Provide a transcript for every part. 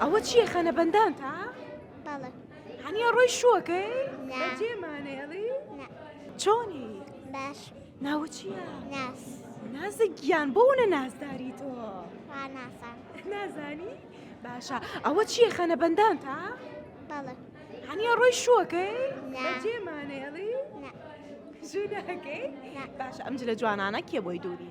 ئەوە چییە خەنە بەندان تا؟ بەڵێ هەنیە ڕۆی شوەکەی جێمانێڵی چۆنی باش ناوە چییە؟ ناس نازە گیان بۆونە نازداری تۆ نازانی؟ باشە ئەوە چییە خەنە بەندان تا؟ بەڵێ هەنیە ڕۆی شوەکەی جێمانێڵی ژوورەکەی باش ئەم جلە جوانانە کێ بۆی دووری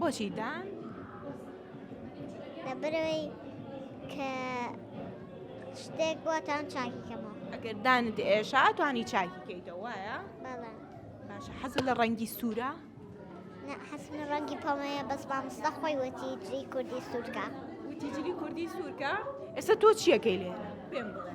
بۆچی دان؟ لەبەرەوەی کە شتێک بۆ تان چاکی کەمەوە ئەگەر دانت ئێشا توانی چاکی کەیتەوە وایە؟ بەڵێ باشە حەز لە ڕەنگی سوورە؟ حەسم لە ڕەنگی پەڵەیە بەس مامۆستا خۆی وەتی جلی کوردی سوورکە وتی جلی کوردی سوورکە ئێستا تۆ چیەکەی لێرە پێم بڵێ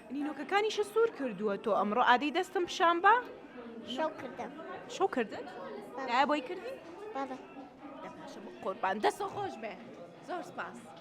نینۆکەکانیشە سوور کردووە تۆ ئەمڕۆ ئادەی دەستم پیشان بە شەو کردم شەو کردن بۆی کردی قۆربان دەسە خۆش بێ زۆر سپاس.